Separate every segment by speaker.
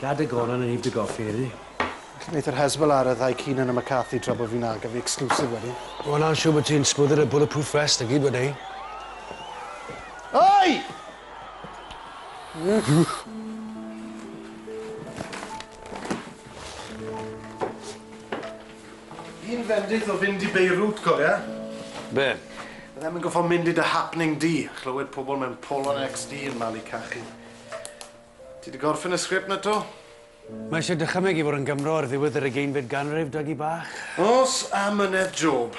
Speaker 1: Gad y goron yn i dy goffi, yli. Felly neith yr Hezbollah ar y ddau Keenan a McCarthy tra bo fi'n ail gen fi exclusive wedyn. Wel na'n siŵr bo ti'n sgwydder y bulletproof vest a gyd wedei. Oi! Fi'n fendith o fynd i Beirut, cofia? Be? Fyddem yn goffo mynd i dy happening di a chlywed pobol mewn Polon XD yn malu cachu. Ti 'di gorffen y sgript 'na 'to? Mae eisiau dychymyg i fod yn Gymro ar ddiwedd yr ugeinfed ganrif, Dougie bach. Os amynedd Job.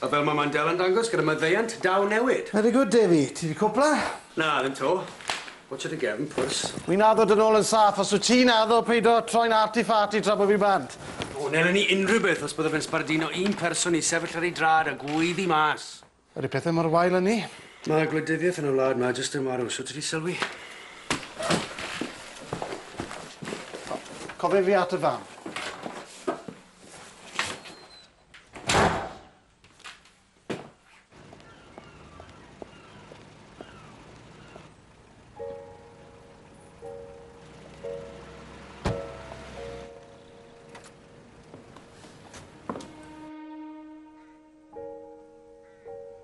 Speaker 1: A fel mae Mandela'n dangos gyda maddeuant daw newid. Very good, Davey. Ti 'di cwpla? Na, ddim 'to. Watch o dy gefn pwrs. Wi'n addo dy nôl yn saff, os wyt ti'n addo peido troi'n arty-farty tra bo fi bant. O, nela ni unrhyw beth os bydda fe'n sbarduno un person i sefyll ar ei drad a gweiddi mas. Ydy pethe mor wael â 'ny? Mae gwleidyddiaeth yn y wlad 'ma jyst yn marw, shwt ydi sylwi? Cofia fi at y fam.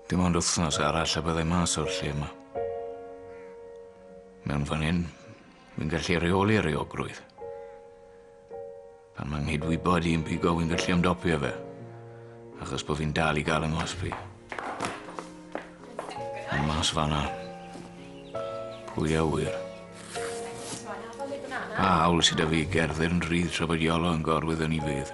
Speaker 1: Dim ond wythnos arall a byddai mas o'r lle yma. Mewn fan hyn, fi'n gallu reoli reogrwydd. Pan mae'n nghyd-wybod i'n pigo wy'n gallu ymdopio fe. Achos bod fi'n dal i gael yng nghosbi. Ond mas fanna. Pwy a wyr? Pa hawl sydd â fi gerdded yn rhydd tra bod Iolo yn gorwyddo ni fydd?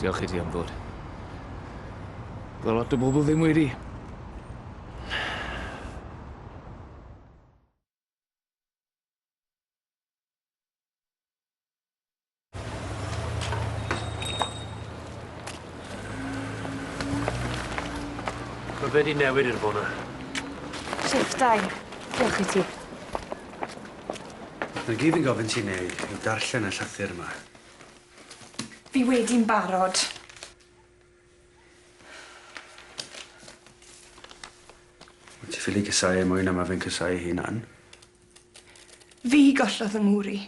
Speaker 1: Diolch i ti am ddod. Ddo lot o bobl ddim wedi. Mae fe di newid i'r fona. Shift dau. Diolch i ti. Mae gyd yn gofyn ti'n ei yw darllen y llythyr yma. Fi wedi'n barod. Wyt ti ffili cysau e mwy na ma fe'n cysau ei hunan? Fi gollodd fy ngŵr i.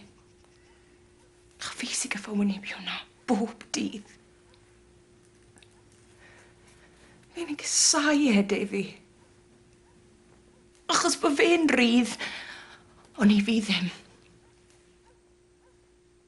Speaker 1: A fi sy gyffo wynebu hwnna bob dydd. Fi'm yn cysau e, Defi. Achos bo fe'n rydd, ond i fi ddim.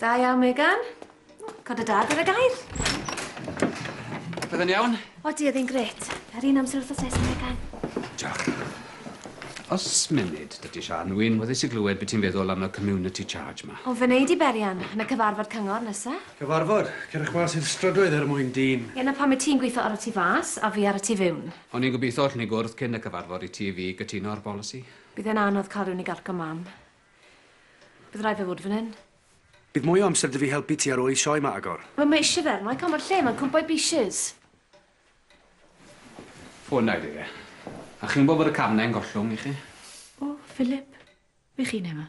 Speaker 1: Da iawn, Megan. Cod y dad ar y gair. Byddai'n iawn? O, di, oedd hi'n gret. Yr un amser wrth o ses, Megan. Diolch. Os munud, dydy Sian, wy'n wyddus i glywed beth ti'n feddwl am y community charge ma. Ond fe wneud i berian, yn y cyfarfod cyngor nesa. Cyfarfod? Cerwch mas i'r strydoedd er mwyn dyn. Ie, na pam mae ti'n gweithio ar y tu fas, a fi ar y tu fewn. O'n i'n gobeithio allwn ni gwrdd cyn y cyfarfod i ti fi gytuno ar bolisi. Bydd e'n anodd cael rhywun i gargo Mam. Bydd rhaid fe fod fan hyn. Bydd mwy o amser 'da fi helpu ti ar ôl i'r sioe 'ma agor. Wel, mae isie fe, Mike, ond mae'r lle 'ma'n cwmpo i bieces. Ffona i fi fe. A chi'n gwybod bod y cam 'na i'n gollwng i chi? O, Philip. Be' chi'n neu' 'ma?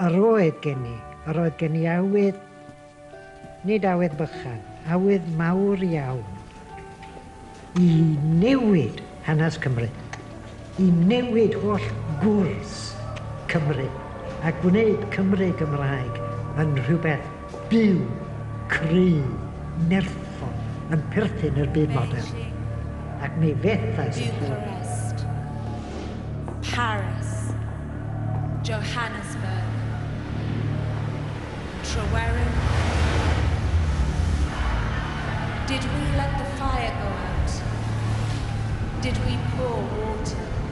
Speaker 1: A roedd gen i, a roedd gen i awydd, nid awydd bychan, awydd mawr iawn, i newid hanes Cymru, i newid holl gwrs Cymru, a gwneud Cymru Gymraeg yn rhywbeth Byw, creu, nerthol yn perthyn i'r byd modern, ac mi fethais yn Bucharest, Paris, Johannesburg, Tryweryn. Did we let the fire go out? Did we pour water?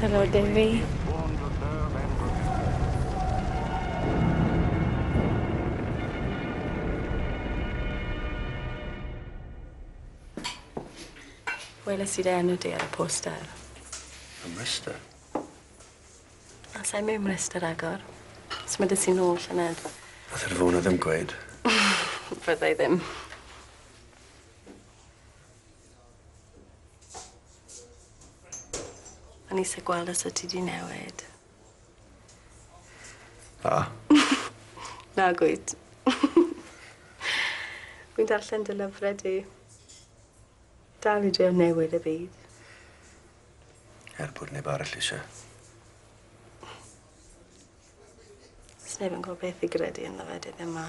Speaker 1: Helo Defi. Weles i dy enw di ar y poster. Ym Mryste? A sai mewn Mryste ragor. Symudais ti nôl llynedd. Nath yr ddona ddim gweud. Fyddai ddim. O'n i isie gweld os o' ti 'di newid. Na. Nag wyt. Wi'n darllen dy lyfre di. Dal i drio newid y byd. Er bod neb arall isie. Sneb yn gwbo beth i gredu ynddo fe dyddie 'ma.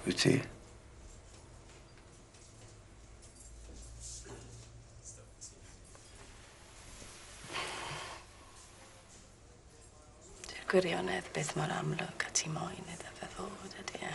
Speaker 1: Wyt ti? Dyw gwirionedd byth mor amlwg a ti moyn iddo fe fod ydi e?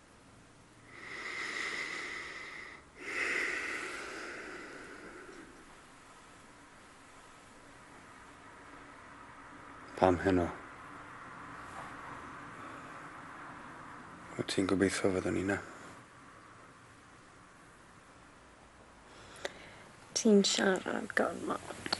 Speaker 1: Pam heno? Wyt ti'n gobeithio fyddwn ni na? Ti'n siarad gormod.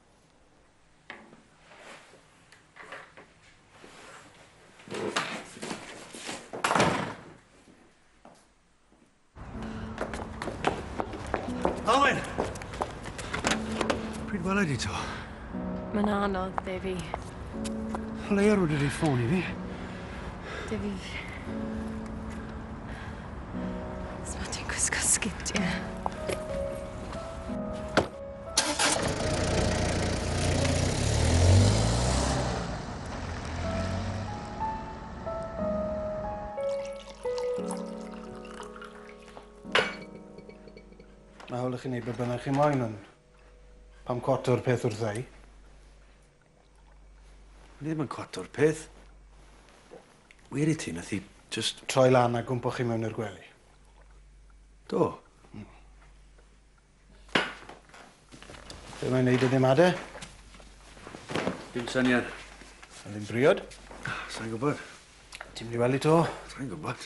Speaker 1: Alwyn! Pryd welai di to? Mae'n anodd, Defi. Leia rwy'n rhaid ffôn i fi. Defi. Sma ti'n gwisgo sgid, ie? Mae hawl i chi wneud be bynnag chi moyn, ond pam cwado'r peth wrtha i? Ni ddim yn cwado'r peth. Wir i ti, nath hi jyst... Troi lan a gwmpo chi mewn i'r gwely? Do. Hmm. Be' mae'n neud iddi 'ma de? Dim syniad. Sa ddim briod? Sai'n gwbod. Ti mynd i wely to? Sai'n gwbod.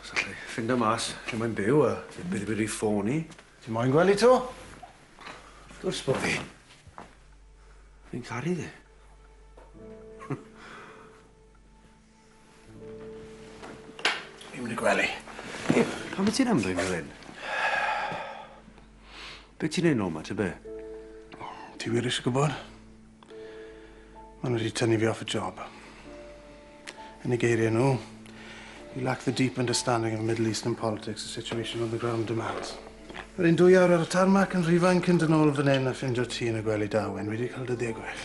Speaker 1: Os allai ffindo mas lle mae'n byw a beth beth wedi ffôn i. Ti moyn gwely to? Wrth gwrs bo fi. Fi'n caru ddi. Fi'n mynd i gwely. Hei, pam wyt ti'n ymddwyn fel hyn? Be ti'n neud nôl ma, ta be? Ti wir eisiau gwybod? Maen nhw wedi tynnu fi off y job. Yn y geiriau nhw, you lack the deep understanding of Middle Eastern politics and situation on the ground demands. Yr un dwy awr ar y tarmac yn rhifain cyn dyn ôl fan hyn a ffindio ti yn y gwely da, Wyn. Fi wedi cael dyddiau gwell.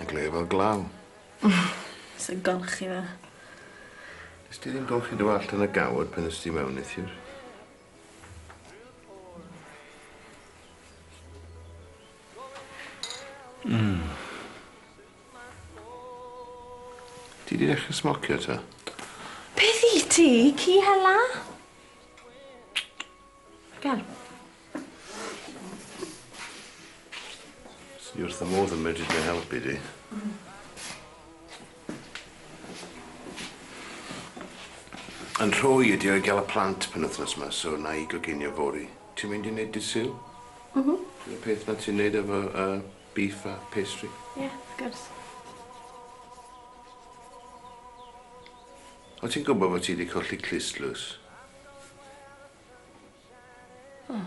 Speaker 1: Yn glir fel glaw. Sa'n golchi fe. Nes ti ddim golchi dy wallt yn y gawr pan nes ti mewn neithiwr? Mm. Ti di ddechrau smocio ta? Beth i ti? Ci hela? Gan. Swn i wrth y modd yn medru dy helpu di. Yn rhoi ydi o'i gael y plant pen wythnos yma, so na i goginio fori. Ti'n mynd i wneud dy syl? Mhm. Mm y peth na ti'n wneud efo uh, beef a pastry? Ie, yeah, wrth gwrs. Wyt ti'n gwybod fod ti 'di colli clustdlws? O.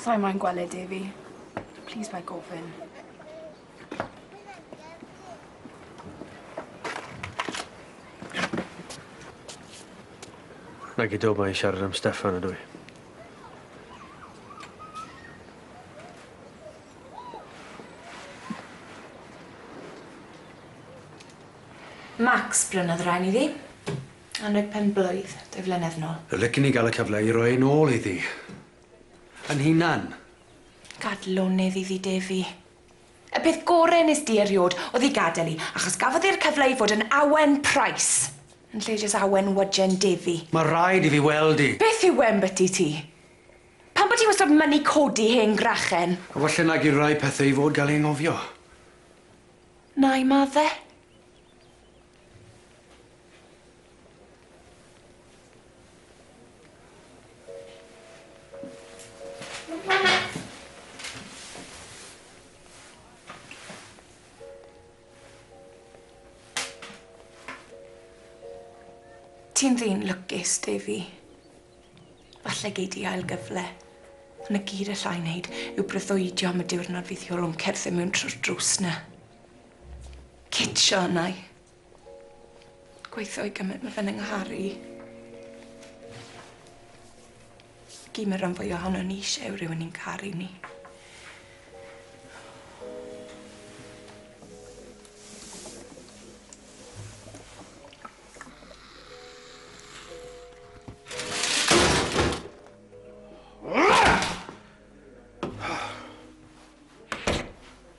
Speaker 1: Sai'n moyn gweld e, Devi. Plîs paid gofyn. Nag i dw'm moyn siarad am Steffan ydw i? Max brynodd y rain iddi. Anrheg pen blwydd, dwy flynedd nôl. Licen i gael y cyfle i roi un ôl iddi. Yn hunan. Gad lonydd iddi Defi. Y peth gore nes di eriod oedd i gadel i, achos gafodd i'r cyfle i fod yn awen Price, yn lle jyst awen wyjen Defi. Mae rhaid i fi weld i. Beth yw e 'mbyty ti? Pam bo ti wastod mynnu codi hen grachen? A falle nag yw rhai pethe i fod gael ei anghofio. Nai madde. Ti'n ddyn lwcus, Davy. Falle gei di ail gyfle. Ond y gyd allai wneud yw breuddwydio am y diwrnod fydd Iolw'n cerdded mewn trwy'r drws na. Cydsio arna'i. Gweithio i gymryd ma' fe'n yng nghar i. Gy' ma' ran fwya ohonon ni isie yw rywun i'n caru ni.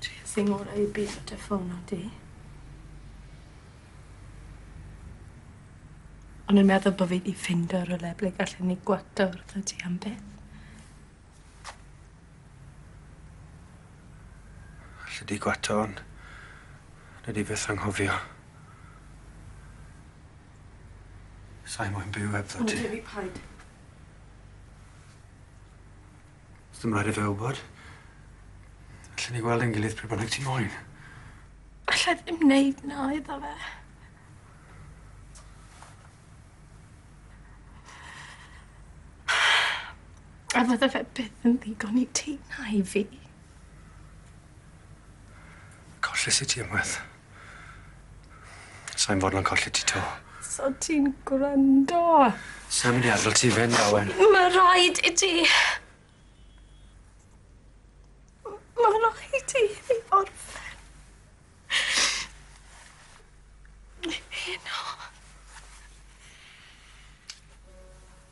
Speaker 1: Tries i ngora i byth dy ffôn na di. O'n i'n meddwl bo' fi 'di ffindo rywle ble gallen ni gwacto wrtho ti am byth. Alli di gwato on' nei di byth anghofio. Sai moyn byw hebddo ti. O na Dewi, paid. Sdim raid i fe wbod. Allen ni weld ein gilydd pryd bynnag ti moyn. Allai ddim neud 'na iddo fe. A fydde fe byth yn ddigon i ti na i fi. Colles i ti unwaith. Sai'n fodlon colli ti 'to. So ti'n gwrando? Sai'n myn' i adel ti fynd, Anwen. Ma' raid i ti. M- ma' raid i hi orffen. Heno.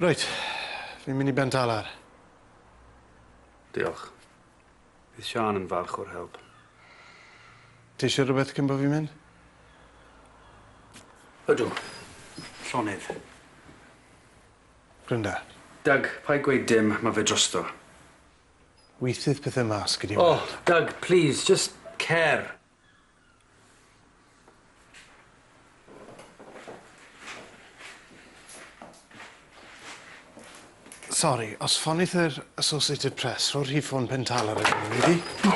Speaker 1: Reit, fi'n mynd i Bentalar. Diolch. Bydd Siân yn falch o'r help. Ti isio rhywbeth cyn bo' fi'n mynd? Ydw. Llonydd. Brynda. Doug, paid gweud dim, ma' fe drosto. Weithiau 'th pethe mas, gei di weld. O, Doug, plîs, jyst cer. Sori, os ffonith yr Associated Press, rho'r rhif ffôn Pen Tal ar y gofyn i fi.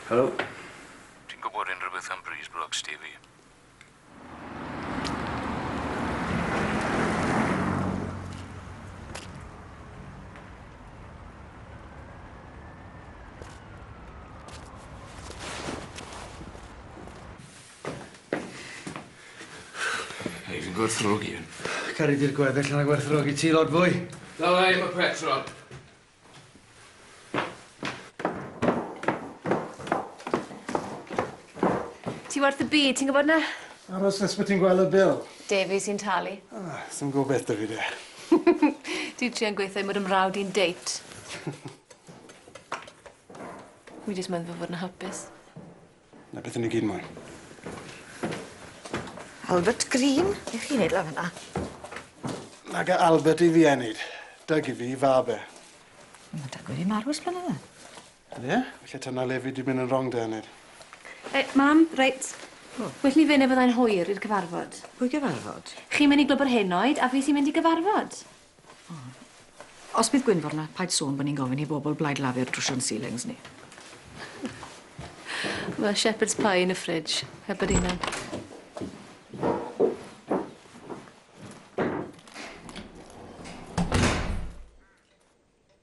Speaker 1: Helo. Ti'n gwybod unrhyw beth am Breeze Block, Stevie? Hei, fi'n gwerthfawrogi hyn. Caru di'r gweddill na gwerthfawrogi ti lot fwy. Dala i am y petrol. Ti werth y byd, ti'n gwybod 'na? Aros nes bod ti'n gweld y bil. Devi sy'n talu. Ah, sy'n gwybod beth da fi de. Dwi trio'n gweithio i mod yn mrawd i'n date. Wi jyst meddwl fod yn hapus. Na beth i ni gyd moyn. Albert Green? Be' chi'n neud lan fynna? Nag y Albert i fi ei neud. Dyg i fi i fab e. Ma' Dyg wedi marw ers blynydde. O ie? Falle ta na le fi di myn yn rong da Enid. Ei, mam, reit. O. Well ni fyn ne fyddai'n hwyr i'r cyfarfod. Pwy gyfarfod? Chi'n myn i glwb yr henoed a fi sy'n mynd i gyfarfod. Os bydd Gwynfor 'na, paid sôn bo' ni'n gofyn i bobol Blaid Lafur drwsio'n ceilings ni. Ma' shepherd's pie yn y fridge, heb yr inne.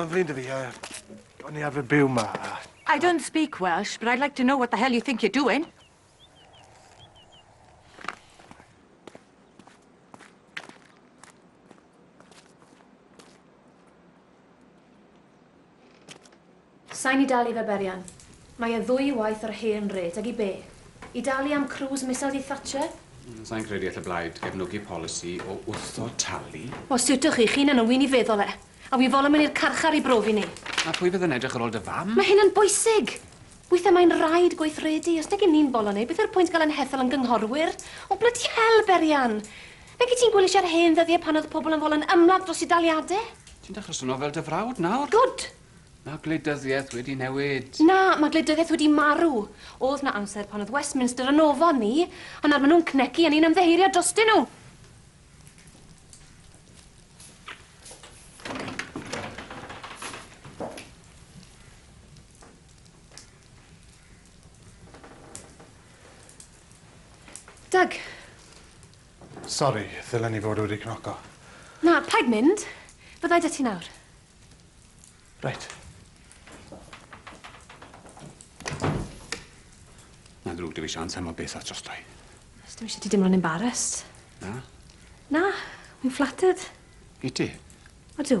Speaker 1: Mae'n flin dy fi, a o'n i arfer byw ma. I don't speak Welsh, but I'd like to know what the hell you think you're doing. Sain i dalu fe berian. Mae e ddwy waith yr hen rêt, ag i be? I dalu am cruise missiles i Thatcher? Mm, sain credu all y blaid gefnogi polisi o wrtho talu. O, sut ych chi? Chi'n yn wy'n i feddwl e. A wi fol yn mynd i'r carchar i brofi ni. A pwy fydd yn edrych ar ôl dy fam? Mae hyn yn bwysig! Weithiau mae'n rhaid gweithredu, os nag 'yn ni'n boloneu, beth yw'r pwynt gael ein hethol yn gynghorwyr? O, blydi hel, Berian! Nag wyt ti'n gwylio siar hen ddyddiau pan oedd pobl yn folo'n ymladd dros eu daliadau? Ti'n dechrau swnio fel dy frawd nawr! Gwd! Mae gwleidyddiaeth wedi newid. Na, mae gwleidyddiaeth wedi marw. Oedd 'na amser pan oedd Westminster yn ofon ni, ond nawr maen nhw'n cnecu a ni'n ymddiheurio drostyn nhw! Doug. Sori, ddylen i fod wedi cnoco. Na, paid mynd. Fyddai 'da ti nawr. Reit. Mae'n ddrwg dwi fi sian teimlo beth at drosto i. Os dim eisiau ti dimlo'n embarrassed. Na? Na, fi'n flattered. I ti? Odw.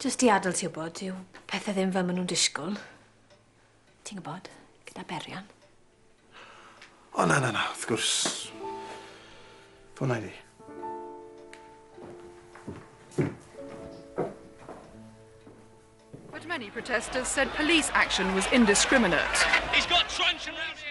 Speaker 1: Jyst i adl ti wybod, dyw pethe ddim fel ma' nhw'n disgwl. Ti'n gwybod, gyda berian. O na, na, na, wrth gwrs. Ffona i ni. But many protesters said police action was indiscriminate. He's got truncheon around here.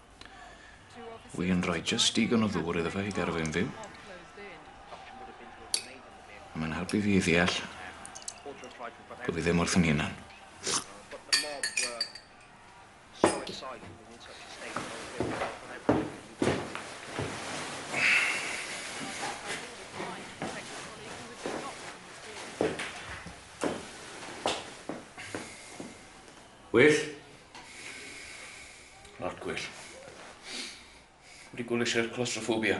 Speaker 1: Wy'n rhoi just digon o ddŵr iddo fe i gadw fe'n fyw. A mae'n helpu fi i ddeall bod fi ddim wrth yn hunan. Gwyll? Lot gwyll. Wedi gwylio sir claustrophobia.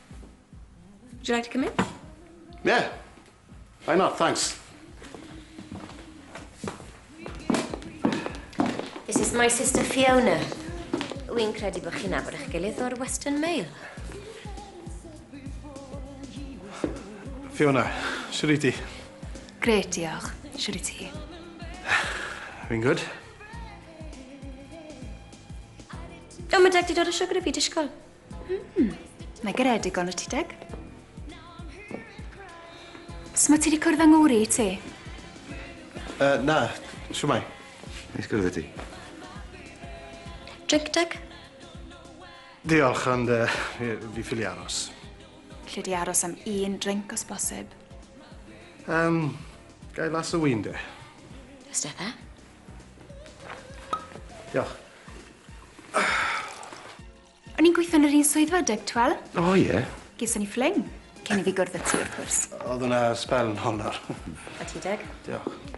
Speaker 1: Would you like to come in? Yeah. Why not? Thanks. This is my sister Fiona. Wy'n credu bod chi'n abod eich gilydd o'r Western Mail. Fiona, siwr i ti? Gret, diolch. Siwr i ti? Fi'n gwyd. O, mae deg di dod o siwgr i fi, disgwyl. Hmm, mae garedig on y ti deg. Sma ti wedi cwrdd â ngŵr i ti? Uh, na, siwmai. Neis gwrdd i ti. Drink deg? Diolch, ond uh, fi, fi ffili aros. Lle di aros am un drink os bosib? Um, gai las o wyn de? Ystedda? Diolch. O'n i'n gweithio yn yr un swyddfa deg twel. O ie? Yeah. Geson ni ffling. Cyn i fi gwrdd y ti, wrth gwrs. Oedd hwnna spel yn honor. A ti deg? Diolch.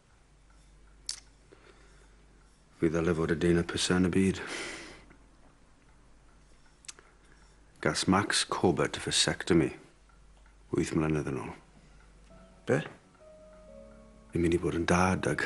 Speaker 1: Fi ddyle fod y dyn y pysa yn y byd. Gas Max Corbett y vasectomy. Wyth mlynedd yn ôl. Be? Fi'n mynd i bod yn dad ag...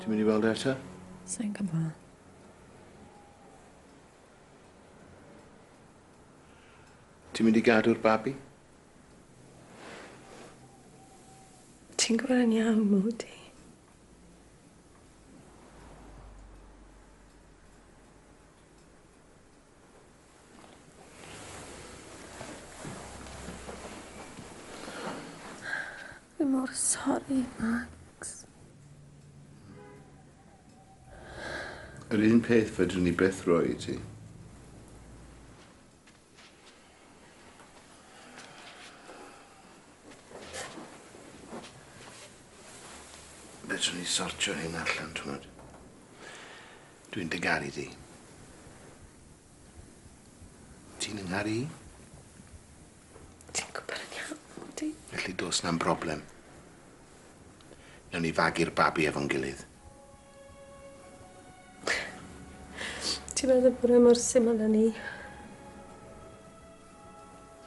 Speaker 1: Ti'n mynd i weld e eto? Sa'n gwbo. Ti'n mynd i gadw'r babi? Ti'n gwbo yn iawn, Modi. Fi mor sori, Max. Yr un peth fedrwn ni beth roi i ti. Fedrwn ni sortio hyn allan, ti'n Dwi'n dy garu di. Ti'n 'y ngharu i? Ti'n gwybod yn iawn mod ti. Felly dos na'm broblem. Newn ni fagu'r babi efo'n gilydd. Ti'n meddwl bod e mor syml â 'ny?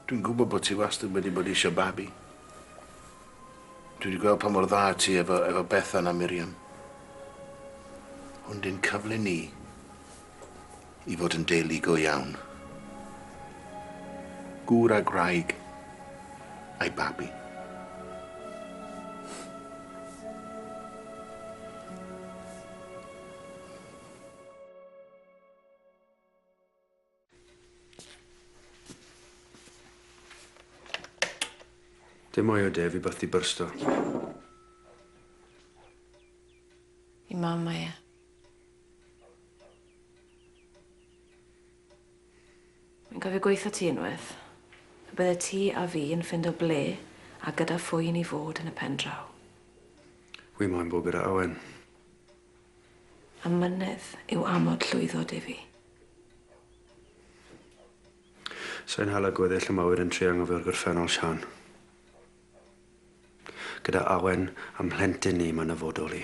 Speaker 1: Dwi'n gwybod bod ti wastad wedi bod eisiau babi. Dwi wedi gweld pa mor dda ti efo, efo Bethan a Miriam. Hwn di'n cyfle ni i fod yn deulu go iawn. Gŵr a gwraig a'i babi. Dim mwy o de, fi byth 'di byrsto. I mam mae e. Fi'n cofio gweitho ti unwaith. Pe bydde ti a fi yn ffindo ble a gyda phwy i ni fod yn y pen draw. Wi moyn bod gyda Owen. Amynedd yw amod llwyddo, Defi. Sa i'n hala gweddill y mawyr yn trio anghofio'r gorffennol, Siân. Gyda Awen a'n mhlentyn ni, mae'n nyfodol i.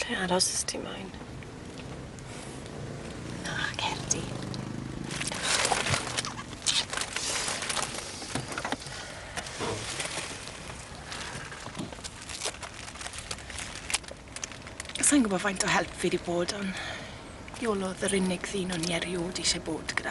Speaker 1: Lle aros os ti moyn. Na, cer di. Sai'n gwybod faint o help fi 'di bod on' Iolo o'dd yr unig ddyn o'n i eriod isie bod gyda.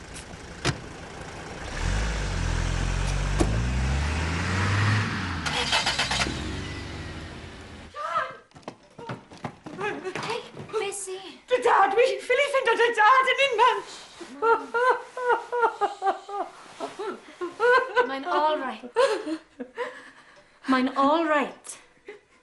Speaker 1: Mae'n all right. Mae'n all right.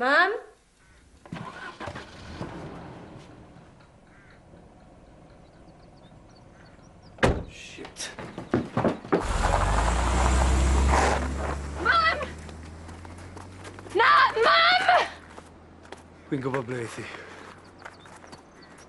Speaker 1: Mam? Shit. Mam! Na, mam! Fi'n gwybod ble i thi.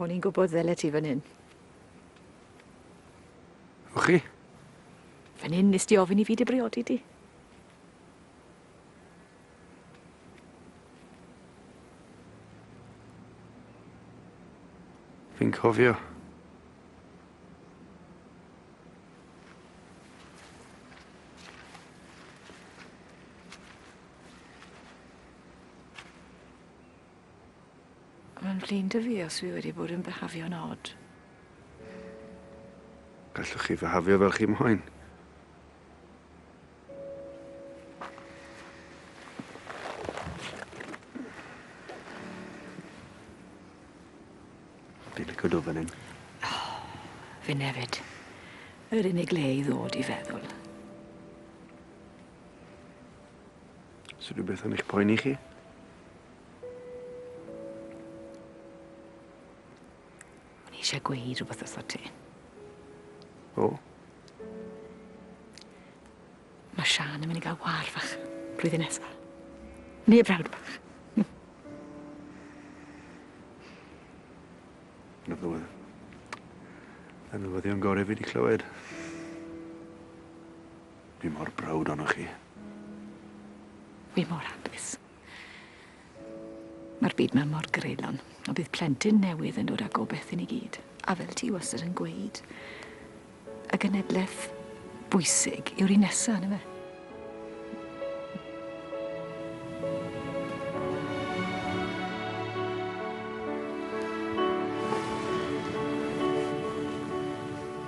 Speaker 1: O'n i'n gwybod ddyle ti fan hyn. O chi? Fan hyn nes di ofyn i fi dy briodi di. Fi'n cofio. Mae'n flin dy fi os fi wedi bod yn byhafio'n od. Gallwch chi fyhafio fel chi moyn. Fi'n lico dod fan hyn. Fi nefyd. Yr unig le i ddod i feddwl. Sy'n rhywbeth yn eich poeni chi? O'n i eisiau gweud rhywbeth wrtho ti. O? Mae Sian yn mynd i gael war fach blwyddyn nesaf. Ni y brawd bach. Yn y flwyddyn. Yn y newyddion gorau fi wedi clywed. Fi mor brawd ohonoch chi. Fi mor hapus. Ma'r byd 'ma mor greulon, a bydd plentyn newydd yn dod â gobeth i ni gyd, a fel ti wastad yn gweud, y genedleth bwysig yw'r un nesa, yndyfe?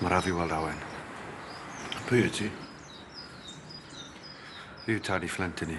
Speaker 1: Braf i weld Owen. Pwy wyt ti? Fi yw tad i Fflint i ni.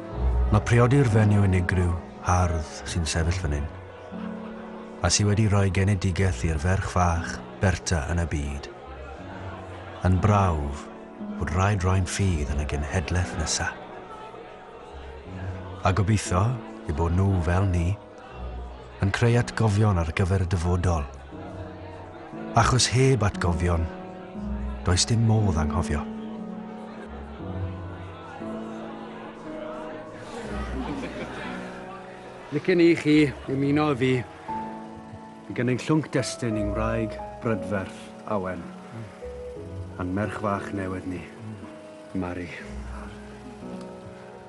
Speaker 1: Mae priodi'r fenyw unigryw, hardd, sy'n sefyll fan hyn, a sy wedi rhoi genedigaeth i'r ferch fach, Berta, yn y byd, yn brawf bod rhaid roi'n ffydd yn y genhedlaeth nesa. A gobeithio eu bod nhw, fel ni, Yn creu atgofion ar gyfer y dyfodol. Achos heb atgofion, does dim modd anghofio. Licen i chi ymuno â fi i gynnig llwnc destun i'n wraig brydferth, Awen, a'n merch fach newydd ni, Mari.